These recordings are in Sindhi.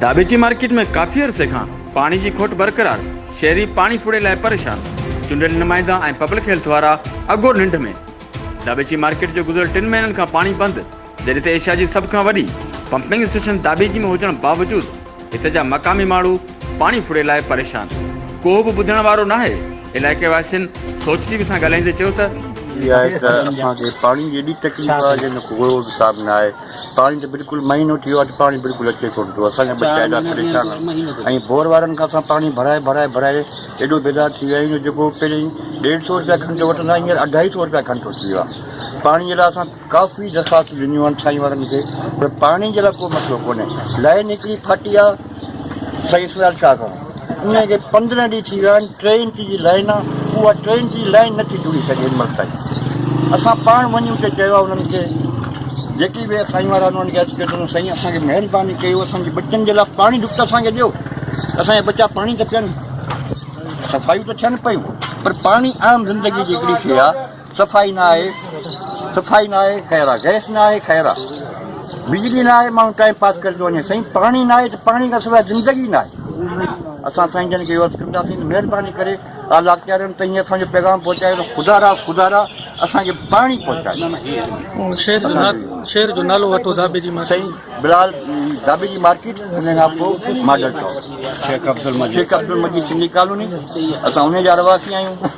داٻيچي مارڪيٽ ۾ ڪافي عرصي کان پاڻي جي کوٽ برقرار، شهري پاڻي ڦڙي لاء پريشان، چونڊيل نمائندا ۽ پبلڪ هيلٿ وارا اگهور ننڊ ۾، داٻيچي مارڪيٽ جو گذريل ٽن مهينن کان پاڻي بند، جڏهن ته ايشيا جي سڀ کان وڏي پمپنگ اسٽيشن دابيجي ۾ هجڻ باوجود هتي جا مقامي ماڻهو پاڻي ڦڙي لاء پريشان، ڪوهه به ٻڌڻ وارو ناهي، علائقي واسين سوچ ٽي وي سان ڳالهائيندي چيو ته. ٿي آهي ته اسان کي پاڻي جي ايڏي تڪليف آهي جنهن جو ڪو ڳوڙهو حساب نه آهي، پاڻي ته بلڪل مهينو ٿي ويو آهي ته پاڻي بلڪل اچي ڪونه ٿو، اسان جا ٻچا ايڏا پريشان ۽ بور وارن کان اسان پاڻي ڀرائي ڀرائي ڀرائي ايڏو بيزار ٿي ويا آهيون جو جيڪو پهرين ڏيڍ سئو روپيا گهنٽو وٺندا هئا هينئر اڍائي سئو روپيا گهنٽو ٿي ويو آهي پاڻي جي لاء اسان ڪافي درخواست ڏنيون آھن سائين وارن کي پر پاڻي جي لاء ڪو مسئلو ڪونھي لائين ھڪڙي ڦاٽي آ سائين اسرار شاھ کان ان کي پندرهن ڏينهن ٿي ويا آھن ٽي انچ جي لائين آ اها ٽي انچ جي لائين نٿي جڙي سگهي هن مھل تائين اسان پاڻ وڃي اتي چيو آ انهن کي جيڪي به سائين وارا انهن کي اچ ڪيو سائين اسان کي مهرباني ڪيو اسان جي ٻچن جي لاء پاڻي ڍڪ اسان کي ڏيو اسان جا ٻچا پاڻي ته پيئن صفايون ته ٿين پيون پر پاڻي عام زندگي جي ھڪڙي شيء آ صفائي نه آهي صفائي نه آهي خير آ گئس نه آهي خير آ بجلي نه آهي ماڻهو ٽائيم پاس ڪري ٿو وڃي سائين پاڻي نه آهي ته پاڻي کان سواء زندگي نه آهي اسان سائين جن کي عرض ڪنداسين مهرباني ڪري اعليٰ اختيارين تائين اسان جو پيغام پهچايو ته خدا را خدا را اسان کي پاڻي پهچايو شهر جو نا- شهر جو نالو وٺو ڌاٻي جي ماٺي سائين بلال دابي جي مارڪيٽ ان کان پوء model town Sheikh Abdulmajeed Sheikh Abdulmajeed Sindhi colony اسان ان جا رهواسي آهيون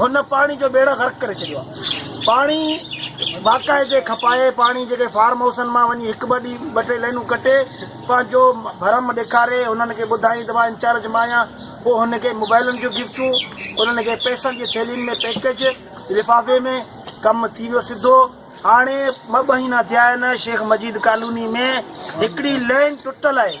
هن پاڻي جو ٻيڙو غرق ڪري ڇڏيو آهي. پاڻي واڪائي تي کپائي پاڻي جيڪي فارم هائوسن مان وڃي هڪ ٻه ڏينهن ٻه ٽي لائنون ڪٽي پنهنجو ڀرم ڏيکاري انهن کي ٻڌائين ته مان انچارج مان آهيان پوء هن کي موبائلن جون گفٽون انهن کي پئسن جي ٿيلهين ۾ پيڪج لفافي ۾ ڪم ٿي ويو سڌو هاڻي ٻه مهينا ٿيا آهن شيخ مجيد ڪالوني ۾ هڪڙي لين ٽٽل آهي.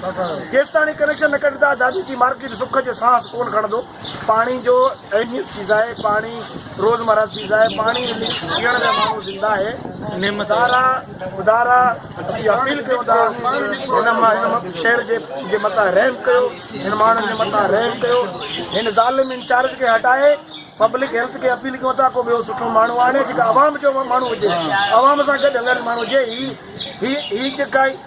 ڪيستاڻي ڪنيڪشن نه ڪڍندا دادي جي مارڪيٽ سک جو سانس ڪون کڻندو پاڻي جو اهميت چيز آهي پاڻي روزمرا چيز آهي پاڻي جيئڻ ۾ ماڻهو زنده آهي نعمتارا خدارا اسي اپيل ڪيو ٿا هن شهر جي جي متا رحم ڪيو هن ماڻهن جي متا رحم ڪيو هن ظالم انچارج کي هٽائي پبلڪ هيلٿ کي اپيل ڪيو ٿا ڪو ٻيو سٺو ماڻهو آڻي جيڪا عوام جو ماڻهو هجي عوام سان گڏ هلڻ ماڻهو هجي هي هي هي جيڪا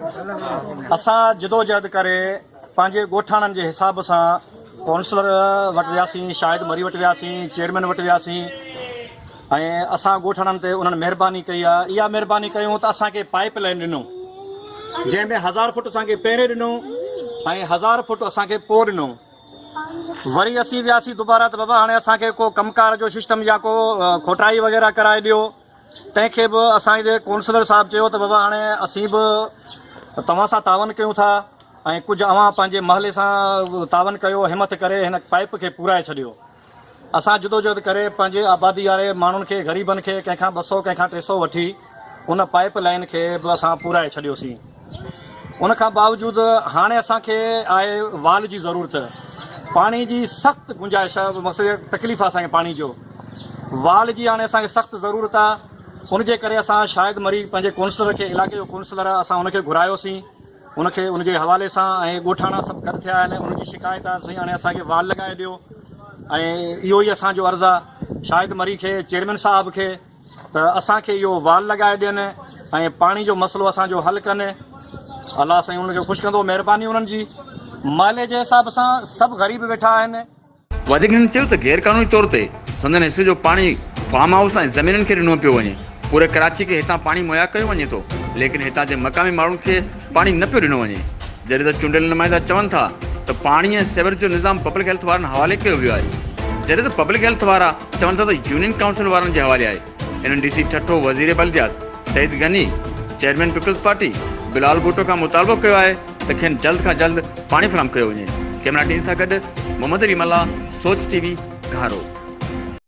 اسان جدوجهد ڪري پنهنجي ڳوٺاڻن جي حساب سان ڪونسلر وٽ وياسين شاهد مري وٽ وياسين چيئرمين وٽ وياسين ۽ اسان ڳوٺاڻن تي انهن مهرباني ڪئي آهي اها مهرباني ڪيون ته اسان کي پائپ لائن ڏنو جنهن ۾ هزار فوٽ اسان کي پهرين ڏنو ۽ هزار فوٽ اسان کي پوء ڏنو وري اسين وياسين دوبارا ته بابا هاڻي اسان کي ڪو ڪم ڪار جو سسٽم يا ڪو کوٽائي وغيره ڪرائي ڏيو تنهن کي به اسان جي قونصلر صاحب چيو ته بابا هاڻي اسين به توهان سان تعاون ڪيون ٿا ۽ ڪجهه اوهان پنهنجي محلي سان تعاون ڪيو همٿ ڪري هن پائيپ کي پورائي ڇڏيو اسان جدوجهد ڪري پنهنجي آبادي واري ماڻهن کي غريبن کي ڪنهن کان ٻه سؤ ڪنهن کان ٽي سؤ وٺي ان پائيپ لائين کي به اسان پورائي ڇڏيوسين. ان کان باوجود هاڻي اسان کي آهي وال جي ضرورت، پاڻي جي سخت گنجائش آهي مقصد تڪليف آهي اسان کي پاڻي جو وال جي هاڻي اسان کي سخت ضرورت آهي ان جي ڪري اسان شاهد مري پنهنجي ڪونسلر کي علائقي جو ڪونسلر آهي اسان ان کي گهرايو سين ان کي ان جي حوالي سان ۽ ڳوٺاڻا سڀ گڏ ٿيا آهن ان جي شڪايت آهي سائين هاڻي اسان کي وال لڳائي ڏيو ۽ اهو ئي اسان جو عرض آهي شاهد مري کي چيئرمين صاحب کي ته اسان کي اهو وال لڳائي ڏين ۽ پاڻي جو مسئلو اسان جو حل ڪن الله سائين انهن کي خوش ڪندو مهرباني انهن جي محلي جي حساب سان سڀ غريب ويٺا آهن. وڌيڪ هن چيو ته غير قانوني طور تي سندن حصي جو پاڻي فارم هائوس ۽ زمينن کي ڏنو پيو وڃي پوري ڪراچي کي هتان پاڻي مهيا ڪيو وڃي ٿو ليڪن هتان جي مقامي ماڻهن کي پاڻي نه پيو ڏنو وڃي جڏهن ته چونڊيل نمائندا چون ٿا ته پاڻي ۽ سيورج جو نظام پبلڪ هيلٿ وارن حوالي ڪيو ويو آهي جڏهن ته پبلڪ هيلٿ وارا چون ٿا ته يونين ڪائونسل وارن جي حوالي آهي، انهن ڊي سي ٺٽو، وزير بلديات Saeed Ghani, chairman peoples party Bilal Bhutto کان مطالبو ڪيو آهي ته کين جلد کان جلد پاڻي فراهم ڪيو وڃي، ڪئميرا ٽيم سان گڏ محمد علي ملاح، سوچ ٽي وي، گهارو.